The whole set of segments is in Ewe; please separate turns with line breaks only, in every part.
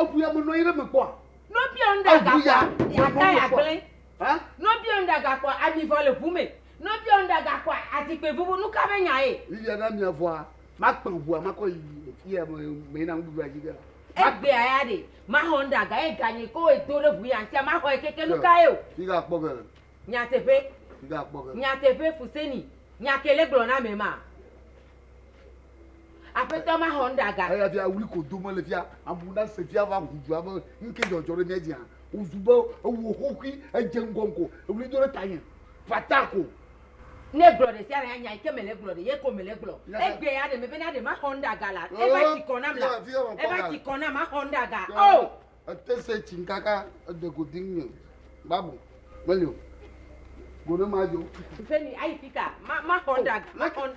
Eŋu ya menɔ anyi ɖe me kpɔa? No biɔ ŋɖe
agakpɔa, miata ya gblẽ. No biɔ ŋɖe agakpɔa, ami vɔ le ŋu me. No biɔ ŋɖe agakpɔa, azikpui vuvu. Nu ka be nya ye? Viviana mia vɔa,
makpã ŋua makɔ yi fiya me na nuɖuɖu adzi ge la. Egbea ya
ɖe, maxɔ ŋɖe aga ye ganye ko ye do ɖe ŋu ya ŋtia, maxɔ ye keke nu ka ye o. Migakpɔ ge.
Nyateƒe.
Migakpɔ ge. Nyateƒe, Fuseni, nya ke le gblɔ na ame ma. Aƒetɔ ma xɔ nuɖaga. Eya via wli ko
dome le fia. Amewo na se fia va ŋu dua be nuke dzɔdzɔ ɖe mía dzi hã. Wozu be ewɔ xoxui, edze ŋgɔ ŋgɔ, ewli do ɖe tanye. Fata ko. Ne
gblɔ ɖe sia ɖe hã nya yi ke mele gblɔ ɖe ye ko mele gblɔ. Egbe ya ɖe me bena ɖe ma xɔ nuɖaga la. Eva tsi kɔ nam la. Eva tsi kɔ nam ma xɔ nuɖaga. Oh! Ete se tsim
kaka ede go diŋ nye babu meli o go ne ma jo. Mfeni ayi fika
ma ma xɔn daga ma xɔn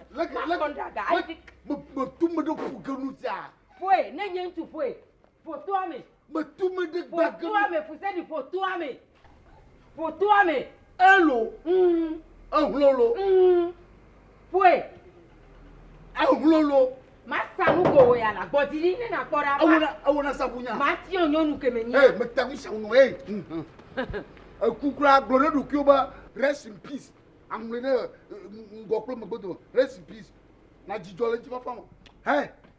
ma xɔn daga ayi fika. Me me tu me ɖe
ƒu ke nu tia. Ƒoe ne nye
ŋutsu ƒoe ƒo toa me. Me tu me ɖe
gba ke nu. Ƒo toa me fuseni
ƒo toa me. Ƒo toa me. Elo. Ŋ.
Ehlolo. Ŋ. Ƒoe. Ehlolo. Masa nu ko
wò ya la gbɔ dzi ɖi ne nàkpɔ ɖa. Ewɔ na ewɔ na sabu
nya. Matiɔ nyɔnu ke me
nya. Ee meta ŋu sabu nɔ
ee. Eku kura gblɔ ɖe ɖokuiwo be rest in peace. Aŋlɔe ɖe ŋgɔ kple megbe dome. Rest in peace. Nadzi dzɔ le ŋutifafa me. Hɛ.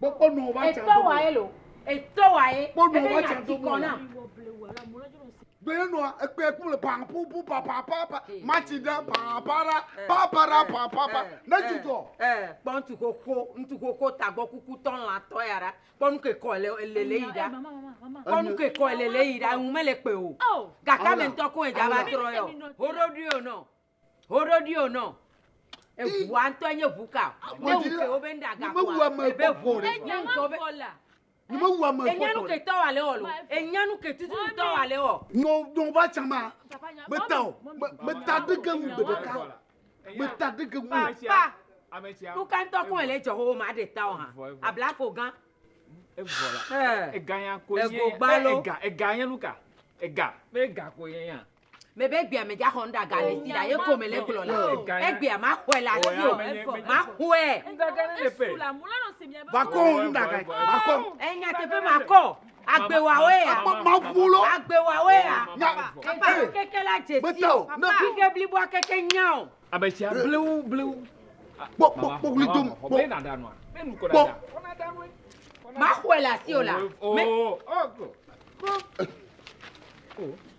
Etɔ wa ye lo.
Etɔ wa ye. Ebe nya ti kɔ
na. Gbɛɛ nɔ ekpɛ kple pan pupu papa papa matsi ɖe papa ra papa ra papa pa ne dzudzɔ. Kpɔ ŋutu
xoxo ŋutu xoxo tagbɔ kuku tɔ lã tɔ ya ɖa kpɔ nu ke kɔ le le le yi ɖa kpɔ nu ke kɔ le le yi ɖa ŋu mele kpɛ o. Gakame ŋutɔ ko edza va trɔ yɔ. Hoɖoɖoe o nɔ. Woɖoɖi o nɔ. Eʋua ŋutɔ nye ʋu ka. Ne wu ke wo be ŋɖa ga kua. Ebe ʋu ɖe. Enye ŋutɔ be.
Ni me wu ame fɔtɔ. Enye nu ke tɔ wa le wɔ
lo. Enye nu ke tutu tɔ wa le wɔ. Nɔ nɔ va tsa ma.
Me ta o. Me ta ɖe ke ŋu gbe ɖeka. Me ta ɖe ke ŋu. Papa.
Nu ka ŋutɔ kɔn ele dzɔ wo ma ɖe ta o hã. Abla fo gan. Eʋɔ
la. Ega ya ko ye. Ego gbalo. Ega ega nye nu ka. Ega. Be ega ko ye ya. me be egbea me
dzaxɔ nuɖa ga le si la ye ko me le gblɔ la egbea ma xɔe la si o ma xɔe.
vakɔ nuɖa ga vakɔ. enya teƒe ma kɔ
agbewawo ya maƒulo
agbewawo ya
papa keke la dze si o kike bliboa keke nya o. ametsia blewu
blewu. kpɔ kpɔ
kpɔ wuli dom kpɔ
kpɔ.
ma xɔe la si o la.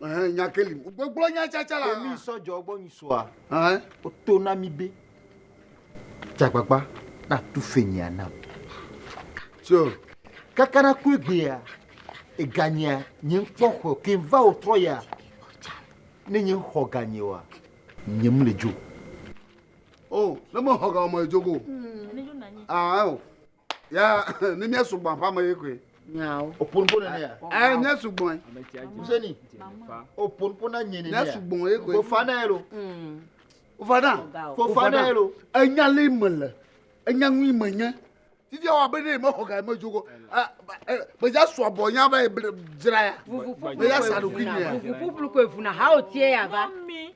Ɛhɛn, nya ke li.
Gbɔgblɔ nya tsatsa la. Emi sɔ dzɔ gbɔ nyi soa.
Ɛhɛn. Woto na
mi be
dzagbagba na tu fenyia nam. Tso. Kaka na ku egbea, eganyia nye ŋkpɔ xɔ ke va wò trɔ ya. Ne nye xɔ ganye wa, nye mu le dzo. O,
ne me xɔ ganye me dzo go. Ɛhɛn. Ya ne mía sugbɔ aƒea me ye koe. Nyawo. Opo nuƒo
nene
ya. Ɛ mía sugbɔ ye.
Museni.
Opo nuƒo na nye nene ya. Mía sugbɔ ye koe. Fofa
na ye lo. Mm.
Fofa na.
Fofa na ye lo. Enya le me le. Enya nui me nye. Titi awa be ne mexɔ ga me dzogo. Meja sɔ abɔ nya va ye dzra ya. Meja sa ɖokui ne ya. Vuvuƒuƒlu koe vuna ha
o tie ya va. Mami.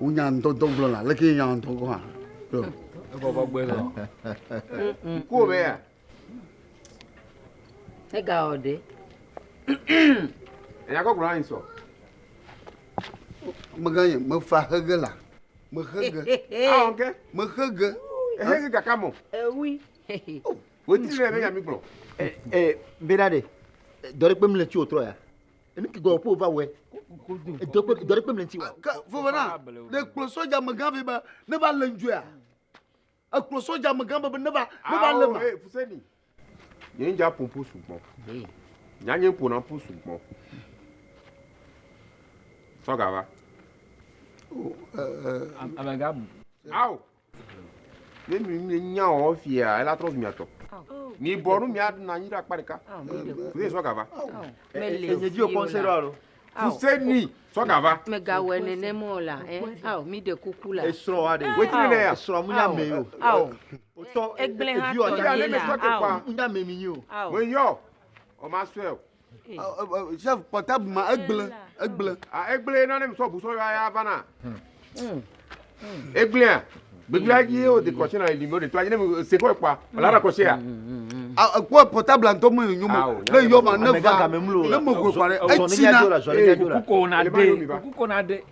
Wonya ŋdɔdɔ gblɔna, leke ye nya ŋdɔ gɔn hã. Yo. Ebɔbɔ
gbé lɔ.
Kuo be ya.
Ega o de.
Enya kɔ gblɔna ni sɔ.
Mega ye, me fa hege la. Me hege. Awo ke. Me
hege.
Ehege gaka
mo. Ewi. Wetri ne be ya mi gblɔ. Eh eh, beda
de. Dɔre kpem le tsi otrɔ ya. Enu ki gɔwɔ ƒo va wɔe. Edɔ kpe dɔ ɖe kpe mlɛnti wa. Ke vɔvɔ na ne
kplɔ sɔdza megã vɛ be ne va le ŋdzɔe a. Ekplɔ sɔdza megã be be ne va ne va le ma. Awo, Fuseni.
Nye ŋdza ƒo ƒu sugbɔ. Nya nye ƒona ƒu sugbɔ. Sɔga va.
Amegã bu. Awo.
Ne mi mi nya o fia ela trɔ zu mia tɔ. Mi bɔ nu mia na nyi ɖe akpa ɖeka. Ne sɔ gava. Mele si
o la. Fuseni
sɔ gava. Me ga wɛ ne ne
mo la. Eh, aw mi de kuku la. Esrɔ wa de. Weti
ne ya. Esrɔ mu
nya me yo.
Aw. Oto. Egble ha to
ye la.
Aw.
Nya me
mi yo. Aw. Mo yo.
O ma swe o. Chef
kpɔta bu ma egble egble. Ah egble na ne
mi sɔ bu sɔ ya ya va na. Egblea gbegble ayi o de kɔshe na ebi mo de to ayi ne mi se kɔ kpa. Ala ra kɔshe ya. Ah kɔ
pɔta bla ntɔ mo nyu mo. Ne yɔ ma ne va. Ne mo ko kɔ ne. Etsi na. Kuko na
de. Kuko na de.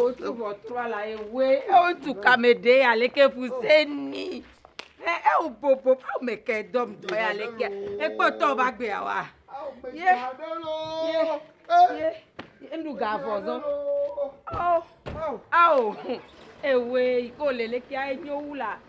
Wotu
ʋɔtrua la ye woe wotu kame ɖe ya leke fuse ni. Ɛ ɛ wò bobo ƒe me ke dɔm dɔ ya leke ekpɔtɔ ba gbea wa. Ye ye ye enu ga vɔ zɔ. Ao ao ewe yi ko le leke enyo wu la.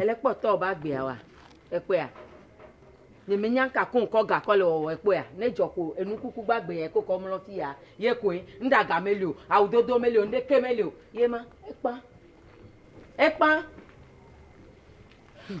Ele kpɔtɔ o be agbea wa ekpɔea? Ne menya ŋka ko ŋkɔ ga kɔ le wɔwɔ ekpɔea? Ne dzɔ ko enu kuku gba gbe ya ko kɔ mlɔ fi ya ye koe. Nuɖaga meli o, awu dodo meli o, nuɖeke meli o. Ye ma ekpa. Ekpa. Hmm.